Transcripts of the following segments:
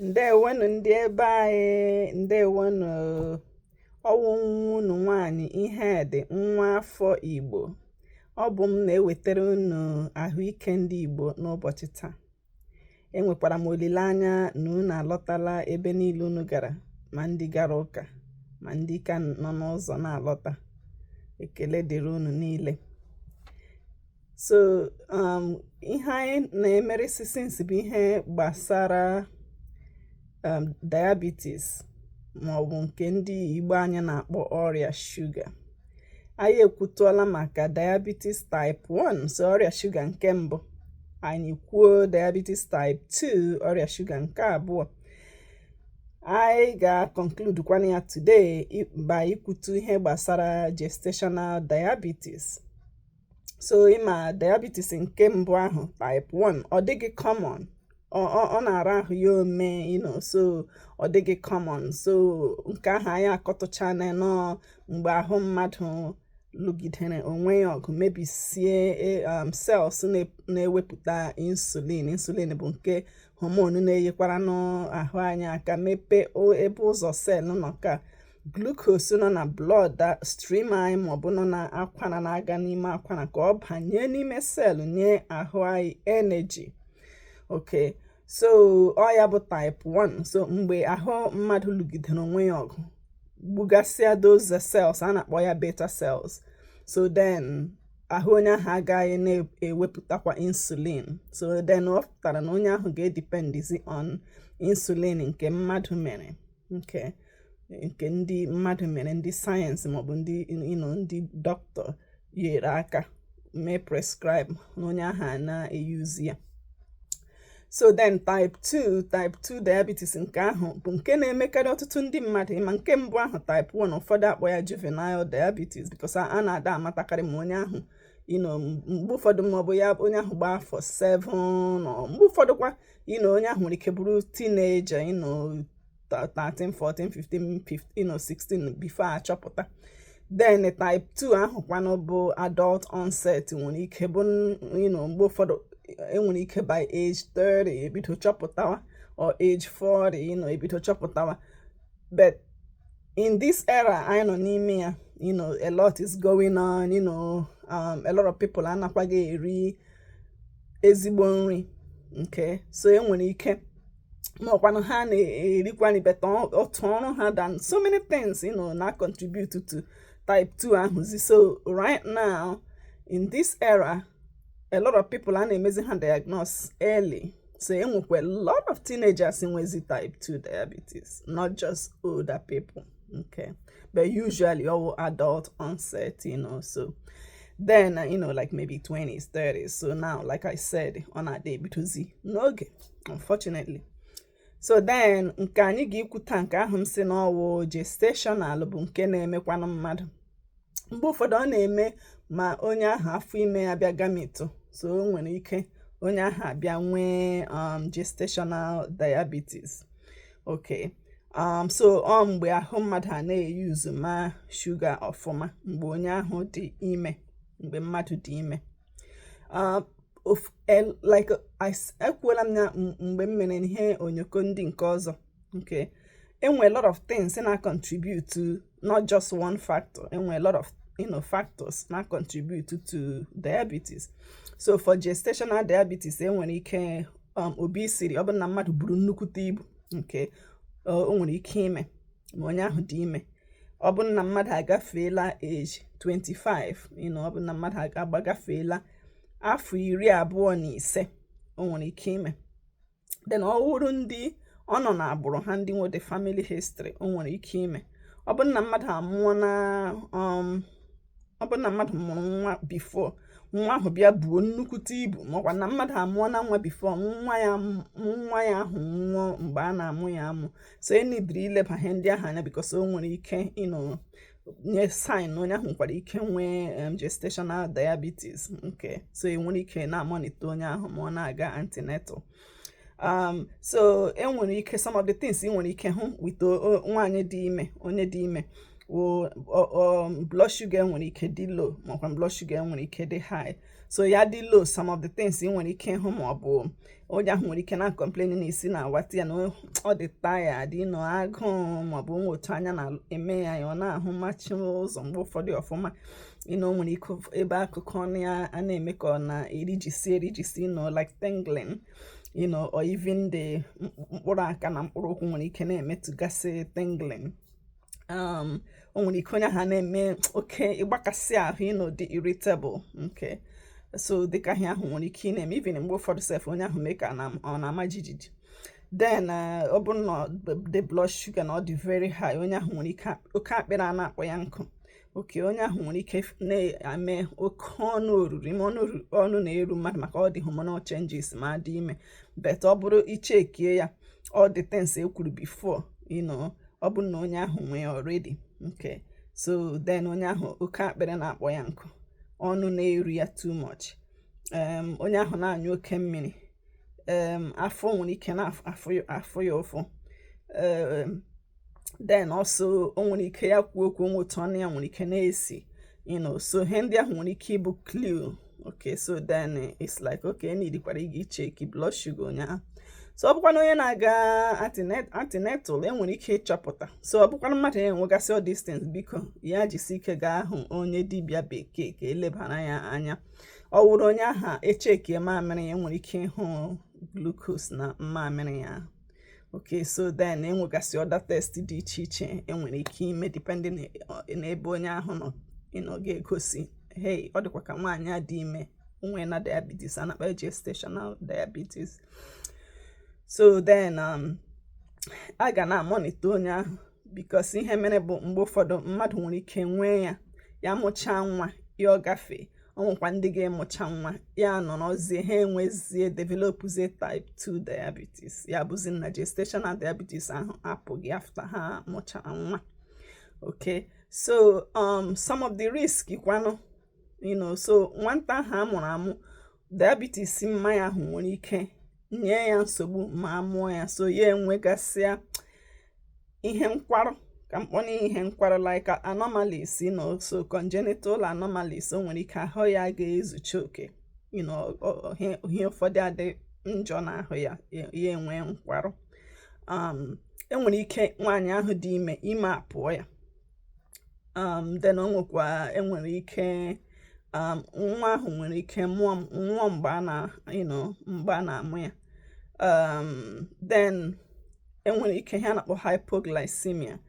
ndeewonụ ndị ebe anyị ndeewonụ ọ wụ nwa unu nwaanyị Ihedị nwa afọ igbo ọ bụ m na-ewetara unu ahụike ndị igbo n'ụbọchị taa enwekwara m olileanya na unu alọtala ebe niile unu gara ma ndị gara ụka ma ndị ka nọ n'ụzọ na-alọta ekele dịrị unu niile so um, ihe anyị na-emerisi since bụ ihe gbasara um, diabetes maọbụ nke ndị Igbo anyị na-akpọ ọrịa shuga anyị ekwutụọla maka diabetes type 1 so ọrịa shuga nke mbụ anyị kwuo diabetes type 2 ọrịa shuga nke abụọ anyị ga-conclude kwana ya today by ikwutu ihe gbasara gestational diabetes so ị ma diabetes nke mbụ ahụ type 1 ọ dịghị common ọ na-ara ahụ ya ome you know so ọ dịghị common so nke ahụ anyị akọtụchana na ọ mgbe ahụ mmadụ lụgidere onwe ya ọgụ mebisie e, um, cells na-ewepụta insulin insulin bụ nke hormone na-enyekwaranụ ahụ anyị aka mepee ebe ụzọ cell nọ ka glucose nọ na bloodstream anyị maọbụ nọ na akwara na-aga n'ime akwara ka ọ banye n'ime cell nye ahụ anyị energy okay so ọ ya bụ type 1 so mgbe ahụ mmadụ lụgidere onwe ya ọgụ gbugasịa those cells a na-akpọ ya beta cells so then ahụ onye ahụ agaghị na-ewepụtakwa insulin so then ọ pụtara na onye ahụ ga-edependizi on insulin nke mmadụ mere nke nke ndị mmadụ mere ndị sayensị maọbụ ndị you know ndị dọkịta nyere aka mee prescribe na onye ahụ na-eyuzi ya so then type 2 type 2 diabetes nke ahụ bụ nke na-emekarị ọtụtụ ndị mmadụ ị ma nke mbụ ahụ type 1 ụfọdụ akpọ ya juvenile diabetes because a na-ada amatakarị ma onye ahụ you know mgbe ụfọdụ ma ọ bụ ya onye ahụ gbaa afọ 7 mgbe ụfọdụkwa you know onye ahụ nwere ike bụrụ teenager you know 13 14 15 15 or 16 before achọpụta then type 2 ahụkwanụ bụ adult onset nwere ike bụ mgbe ụfọdụ enwere ike by age 30 ebido chọpụtawa or age 40 you know, ebido chọpụtawa but in this era anyị nọ n'ime ya you know, a lot is going on you know, um, a lot of people anakwaghị eri ezigbo nri okay so enwere ike ma ọkwanụ ha na-erikwani beta otu ọrụ ha dị and so many things you know na contribute to type 2 ahụzi so right now in this era a lot of people a na-emezi ha diagnose early so enwekwa a lot of teenagers nwezi type 2 diabetes not just older people okay but usually all adult onset you know so then you know like maybe 20s 30s so now like i said ọ na-adị ebidozi n'oge unfortunately so then nke anyị ga-ekwuta nke ahụ m sị na ọ wụ gestational bụ nke na-emekwanụ mmadụ mgbe ụfọdụ ọ na-eme ma onye ahụ afọ ime ya bịa gamitụ so o nwere ike onye ahụ abịa nwee um, gestational diabetes okay um, so ọ mgbe ahụ mmadụ a na-eyuzu ma shuga ọfụma mgbe onye ahụ dị ime mgbe mmadụ dị ime like ekwuola m ya mgbe m mere ihe onyoko ndị nke ọzọ okay enwe lot of things na contribute to not just one factor enwe lot of you know, factors na contribute to diabetes so for gestational diabetes enwere ike um, obesity ọ bụ na mmadụ buru nnukwute ibu okay o nwere ike ime ma onye ahụ dị ime ọ bụ na mmadụ agafeela age 25 you know ọ bụ na mmadụ agbagafeela afọ iri abụọ na ise o nwere ike ime then ọ wụrụ ndị ọ nọ n'agbụrụ ha ndị nwere family history o nwere ike ime ọ bụ na mmadụ amụọna um, ọ bụ na mmadụ mụrụ nwa before nwa ahụ bịa buo nnukwute ibu makwa na mmadụ amụọna nwa before nwa ya nwa ya ahụ nwụọ mgbe a na-amụ ya amụ so e nidiri ileba ihe ndị ahụ anya because o nwere ike you know nye sign na onye ahụ nwekwara ike nwee um, gestational diabetes okay so e nwere ike na-amonitor onye ahụ ma ọ na-aga antenatal um, so e nwere ike some of the things ị nwere ike ịhụ with nwaanyị dị ime onye dị ime wụ um, blood sugar nwere ike dị low makwa blood sugar nwere ike dị high so ya dị low some of the things ị nwere ike ịhụ ma ọ bụ onye ahụ nwere ike na complain na isi na-awata ya na ọ dị tired you know agụụ ma ọ bụ o nwe otu anya na-eme ya ya ọ na-ahụmachi ụzọ mgbe ụfọdụ ọfụma you know o nwere ike ebe akụkụ ọnụ ya a na-eme ka ọ na-erijisi erijisi you know like tingling you know or even the mkpụrụ aka na mkpụrụ ụkwụ nwere ike na-emetụgasị tingling um, o nwere ike onye ahụ na-eme oke ịgbakasị ahụ you know dị irritable okay so dịka ihe ahụ nwere ike ịna-eme even mgbe ụfọdụ sef onye ahụ mee ka ọ na-ama jijiji then uh, ọ bụrụ na the blood sugar na ọ dị very high onye ahụ nwere ike oke akpịrị a na-akpọ ya nkụ okay onye ahụ nwere ike na-eme oke ọnụ oruru ime ọnụ na-eru mmadụ maka all the hormonal changes ma a dị ime but ọ bụrụ ichekie ya all the things e kwuru before you know ọ bụrụ na onye ahụ nwee already okay so then onye ahụ oke akpịrị na-akpọ ya nkụ ọnụ na-eru ya too much onye ahụ na-anyụ oke mmiri afọ nwere ike na-afụ ya ụfụ then also o nwere ike ya kwuo okwu o nwee otu ọnụ ya nwere ike na-esi you know so ihe ndị ahụ nwere ike ịbụ clue okay so then it's like okay needikwara ịga icheki blood sugar onye ahụ so ọ bụkwa na onye na-aga antenatal enwere ike ịchọpụta so ọ bụkwa na mmadụ ya enwegasị all these things biko ya jisi ike gaa hụ onye dibịa bekee ka e lebara ya anya ọ wụrụ onye ahụ echekie mamịrị ya enwere ike ịhụ glucose na mmamịrị ya okay so then enwegasị other test dị iche iche enwere ike ime depending n'ebe onye ahụ nọ you know ga-egosi hey ọ dịkwa ka nwaanyị a dị ime o nweena diabetes a na-akpọ gestational diabetes so then um, a ga na-amonitor onye ahụ because ihe mere bụ mgbe ụfọdụ mmadụ nwere ike nwee ya ya mụchaa nwa ya agafee o nwekwa ndị ga-amụcha nwa ya anọrọzie ha enwezie developuzie type 2 diabetes ya bụzi na gestational diabetes ahụ apụghị after ha mụchara nwa okay so um, some of the risk kwanụ you know so nwata ahụ a mụrụ amụ diabetes mama ya ahụ nwere ike nye ya nsogbu ma a mụọ ya so ya enwegasịa ihe nkwarụ ka m kpọọ ya ihe nkwarụ like anomalies you know so congenital anomalies o nwere ike ahụ ya ga-ezucha oke you know ihe ụfọdụ adị njọ n'ahụ ya ya enwe nkwarụ um, enwere ike nwaanyị ahụ dị ime ime apụọ ya um then o nwekwa enwere ike um nwa ahụ nwere ike nwụọ mgbe a na you know mgbe a na-amụ ya um then enwere ike ihe a na-akpọ hypoglycemia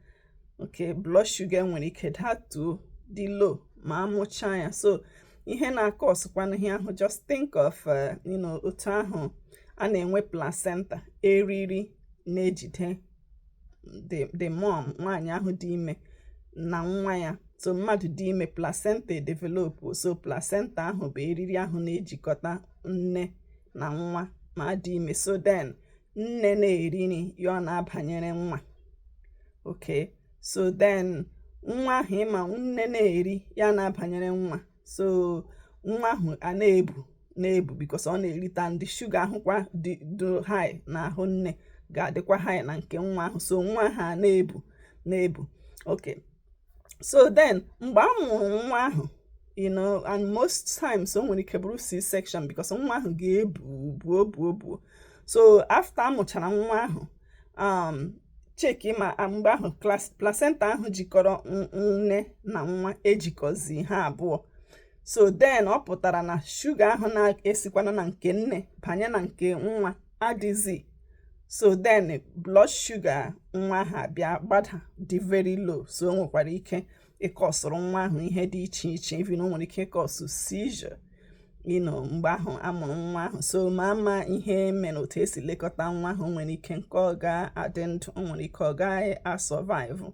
okay blood sugar nwere ike datuo dị low ma amụchaa ya so ihe na-akọsụkwanụ ihe ahụ just think of uh, you know otu ahụ a na-enwe placenta eriri na-ejide the mom nwaanyị ahụ dị ime na nwa ya so mmadụ dị ime placenta edevelop so placenta ahụ bụ eriri ahụ na-ejikọta nne na nwa ma a dị ime so then nne na-eri nri ya ana-abanyere nwa okay so then nwa ahụ ịma nne na-eri ya ana-abanyere nwa so nwa ahụ a na-ebu na-ebu because ọ na-erita ndị shuga ahụkwa dị high na ahụ nne ga-adịkwa high na nke nwa ahụ so nwa ahụ a na-ebu na-ebu okay so then mgbe a mụrụ nwa ahụ you know and most times o nwere ike bụrụ c-section because nwa ahụ ga-ebu buo buo buo so after a mụchara nwa ahụ um cheki ma mgbe ahụ placenta ahụ jikọrọ nne na nwa ejikọzi ha abụọ so then ọ pụtara na shuga ahụ na-esikwana na nke nne banye na nke nwa adịzi so then blood sugar nwa ahụ abịa gbada dị very low so o nwekwara ike ịkọsụrụ nwa ahụ ihe dị iche iche even o nwere ike ịkọsụ seizure you know mgbe ahụ amụrụ nwa ahụ so ma ama ihe mere otu esi lekọta nwa ahụ o nwere ike nke ọ ga-adị ndụ o nwere ike ọ gaghị asurvive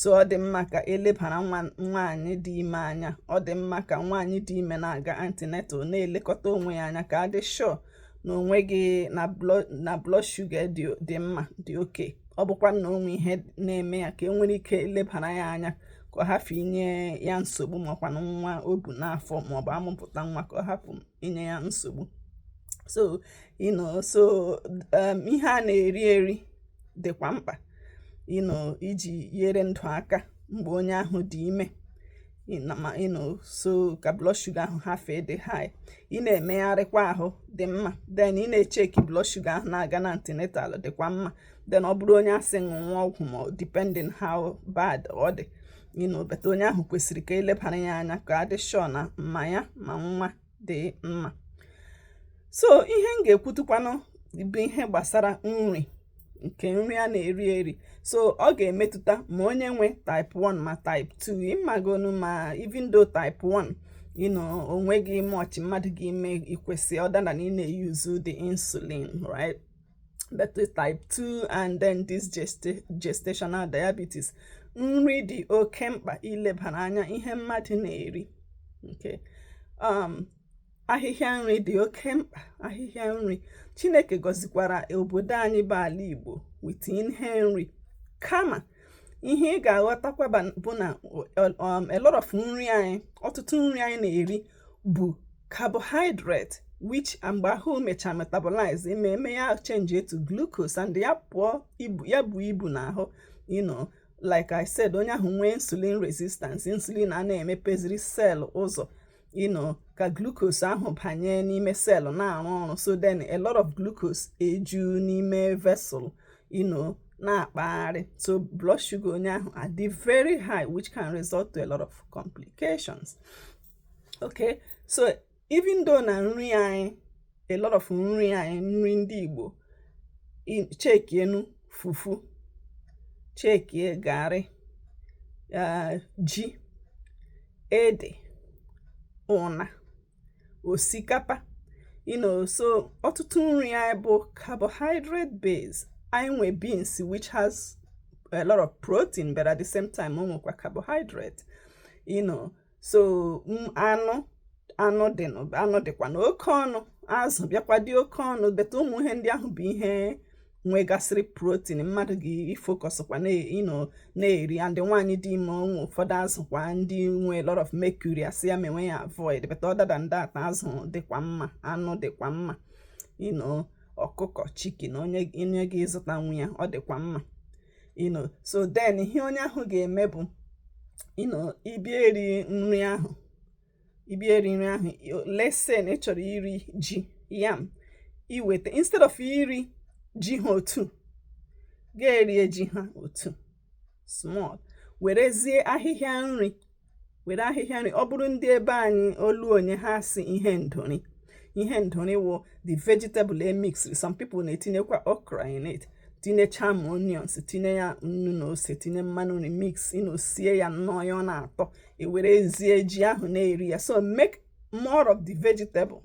so ọ dị mma ka elebara nwaanyị dị ime anya ọ dị mma ka nwaanyị dị ime na-aga antenatal na-elekọta onwe ya anya ka a dị sure na o nweghị na blood sugar dị mma dị okay ọ bụkwa na o nwe ihe na-eme ya ka e nwere ike lebara ya anya ka ọ hapụ inye ya nsogbu makwanụ nwa o bu n'afọ maọbụ amụpụta nwa ka ọ hapụ inye ya nsogbu so you know so um, ihe a na-eri eri dịkwa mkpa you know iji nyere ndụ aka mgbe onye ahụ dị ime you know so ka blood sugar ahụ hapụ ịdị high ị na-emegharịkwa ahụ dị mma then ị na-echeki blood sugar ahụ na-aga na antenatal dịkwa mma then ọ bụrụ onye a sị ṅụwa ọgwụ ma depending how bad ọ dị you know but onye ahụ kwesịrị ka elebara ya anya ka a dị sure na ma ya ma nwa dị mma so ihe m ga-ekwutukwanụ bụ ihe gbasara nri nke nri a na-eri eri so ọ ga-emetụta ma onye nwe type 1 ma type 2 ịmagonu ma even though type 1 you know onweghị much mmadụ ga-eme ikwesị other than na ị na-eyuzu the insulin right but with type 2 and then this gestational diabetes nri dị oke mkpa ilebara anya ihe mmadụ na-eri nke um, ahịhịa nri dị oke mkpa ahịhịa nri chineke gọzikwara obodo anyị bụ ala igbo with ihe nri kama ihe ị ga-aghọtakwa bụ na um, a lot of nri anyị ọtụtụ nri anyị na-eri bụ carbohydrate which mgbe ahụ mechaa metabolize ma mee ya change to glucose and ya buo ibu ya bụ ibu n'ahụ you know like I said onye ahụ nwee insulin resistance insulin a na-emepeziri cell ụzọ you know ka glucose ahụ banye n'ime cell na-arụ ọrụ so then a lot of glucose eju n'ime vessel you know na-akpagharị so blood sugar onye ahụ adị very high which can result to a lot of complications okay so even though na nri anyị a lot of nri anyị nri ndị Igbo chekienu fufu chekie garị ah, ji ede ụna osikapa you know so ọtụtụ nri anyị bụ carbohydrate base anyị nwe beans which has a lot of protein but at the same time o nwekwa carbohydrate you know so anụ anụ dị anụ dịkwa na oke ọnụ azụ bịakwa dị oke ọnụ but ụmụ ihe ndị ahụ bụ ihe nwegasịrị protein mmadụ ga-efokọsịkwa na-eri and nwaanyị dị ime o nwe ụfọdụ azụ kwa ndị nwe a lot of mercury a sị ya menwe ya avoid but other than that azụ dịkwa mma anụ dịkwa mma you know ọkụkọ chicken onye ga-azụtanwu ya ọ dịkwa mma you know so then ihe onye ahụ ga-eme bụ you know ịbịa eri nri ahụ ịbịa eri nri ahụ let's say na ị chọrọ iri ji yam ị weta instead of iri ji ha otu ga-erie ji ha otu small werezie ahịhịa nri were ahịhịa nri ọ bụrụ ndị ebe anyị Ọlụ o nwe ihe a sị ihe ndori ihe ndori wụ the vegetable emix some people na-etinyekwa okra in it tinyecha ma onions tinye ya nnu na ose tinye mmanụ nri mix you know sie ya nnọọ ya ọ na-atọ e werezie ji ahụ na-eri ya so make more of the vegetable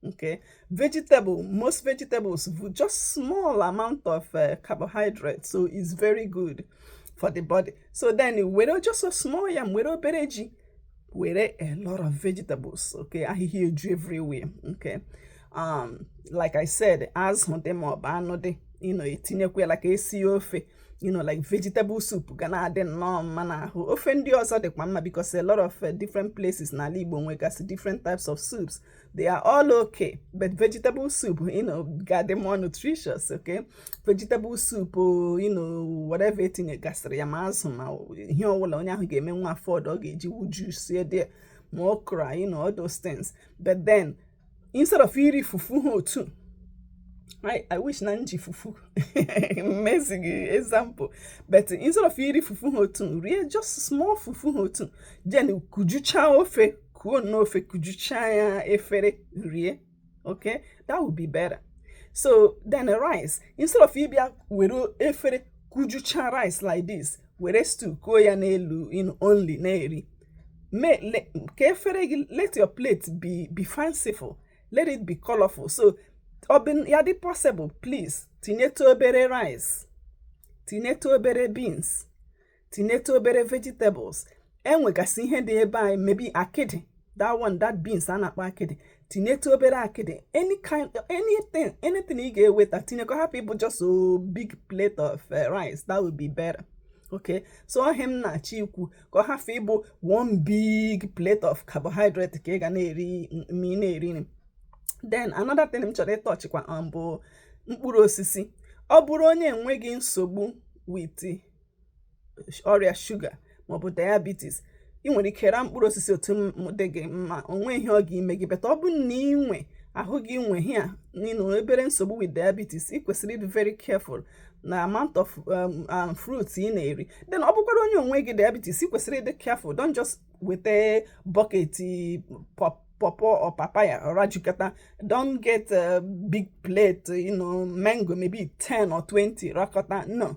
okay vegetable most vegetables with just small amount of uh, carbohydrate so it's very good for the body so then were just a small yam were obere ji were a lot of vegetables okay I hear you everywhere okay um like i said as dị them up, I know they, you know etinyekwa like esi ofe you know like vegetable soup gonna add in nnọọ mma n'ahụ ofe ndị ọzọ dịkwa mma because a lot of uh, different places n'ala Igbo nwegasị different types of soups they are all okay but vegetable soup you know ga-adị more nutritious okay vegetable soup you know whatever etinyegasịrị ya ma azụ ma ihe ọbụla onye ahụ ga-emenwu afford ọ ga-eji wujusie there ma okra you know all those things but then instead of iri fufu ha otu I, I wish na m ji fufu emezi example but instead of iri fufu ha otu rie just small fufu ha otu then kujuchaa ofe kuo n'ofe kujuchaa ya efere rie okay that would be better so then rice instead of ịbịa were efere kujuchaa rice like this were stew kuo ya n'elu only na-eri mee, le, ka efere gị let your plate be be fanciful let it be colorful so ọ bụ ya dị possible please tinyetụ obere rice tinyetụ obere beans tinyetụ obere vegetables e nwegasị ihe dị ebe anyị maybe akịdị that one that beans a na-akpọ akịdị tinyetụ obere akịdị any kind anything anything ị ga-eweta tinye ka ọ hapụ ịbụ just a big plate of eh, rice that would be better okay so ọ ihe m na-achọ ikwu ka ọ hafụ ịbụ one big plate of carbohydrate ka ị ga na-eri ma ị na-eri nri then another thing m chọrọ ịtọchịkwa um, bụ mkpụrụ osisi ọ bụrụ onye enweghị nsogbu with ọrịa shuga maọbụ diabetes ị nwere ike raa mkpụrụ osisi otu dị gị mma onwe ihe ọ ga-ime gị but ọ bụ na ị nwe ahụ gị nwe ya you know obere nsogbu with diabetes ị kwesịrị ịdị very careful na amount of um, um, fruits ị na-eri then ọ bụkwara onye enweghị diabetes ị kwesịrị ịdị careful don't just weta bucket pawpaw or papaya or rajukọta don't get a big plate you know mango maybe 10 or 20 rakọta no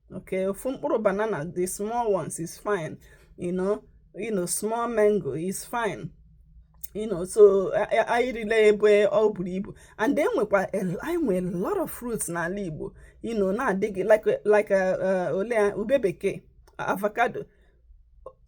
okay ofu mkpụrụ banana the small ones is fine you know you know small mango is fine you know so anyị erila ebe ọ buru ibu and then nwekwa anyị nwere a lot of fruits n'ala Igbo you know na-adịghị like like uh, uh, ole ube bekee avocado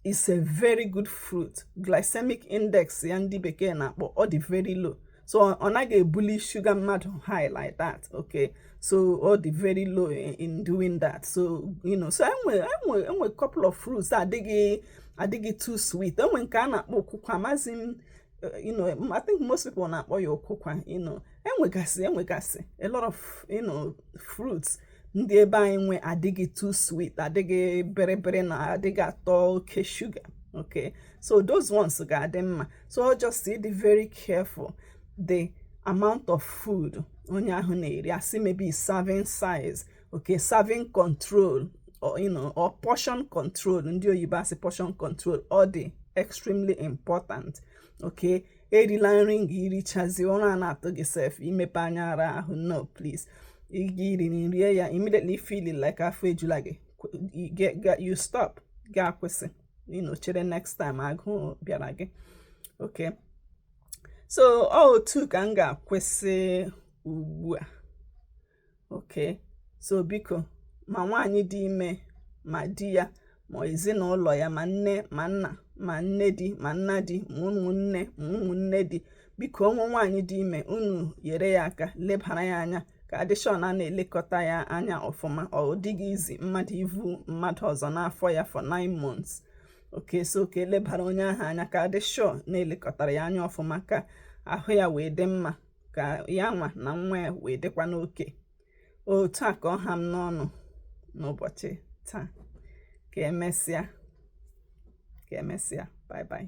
is a very good fruit glycemic index ya ndị bekee na-akpọ ọ dị very low so ọ naghị ebuli shuga mmadụ high like that okay so ọ dị very low in, in doing that so you know so enwe enwe enwe couple of fruits adịghị adịghị too sweet enwe nke a na-akpọ okwukwa amazi m eh, you know, I think most people na-akpọ ya okwukwa you know, enwegasị enwegasị a lot of you know, fruits ndị ebe anyị nwe adịghị too sweet adịghị bịrịbịrị na adịghị atọ oke shuga okay so those ones ga-adị mma so just ịdị very careful the amount of food onye ahụ na-eri asị maybe serving size okay serving control or, you know, or portion control ndị oyibo asị portion control ọ dị extremely important okay erila nri nga irichazi ụra a na-atụ gị sef imepe anya ara ahụ no please iri nri rie ya immediately feeling like afọ ejula gị you stop gị akwụsị you chere next time agụụ bịara gị okay so ọ otu ka m ga-akwụsị ugbu a okay so biko ma nwaanyị dị ime ma di ya ma ezinụlọ ya ma nne ma nna ma nne di ma nna di ma ụmụnne ma ụmụnne di biko onwe nwaanyị dị ime unu yere ya aka lebara ya anya ka a dị sure na a na-elekọta ya anya ọfụma ọ dịghị easy mmadụ ivu mmadụ ọzọ n'afọ ya for 9 months okay so ka elebara onye ahụ anya ka a dị sure na elekọtara ya anya ọfụma ka ahụ ya wee dị mma ka ya nwa na nwa ya wee dịkwanụ okay otu a ka ọ ha m n'ọnụ n'ụbọchị taa ka emesịa ka emesịa bye bye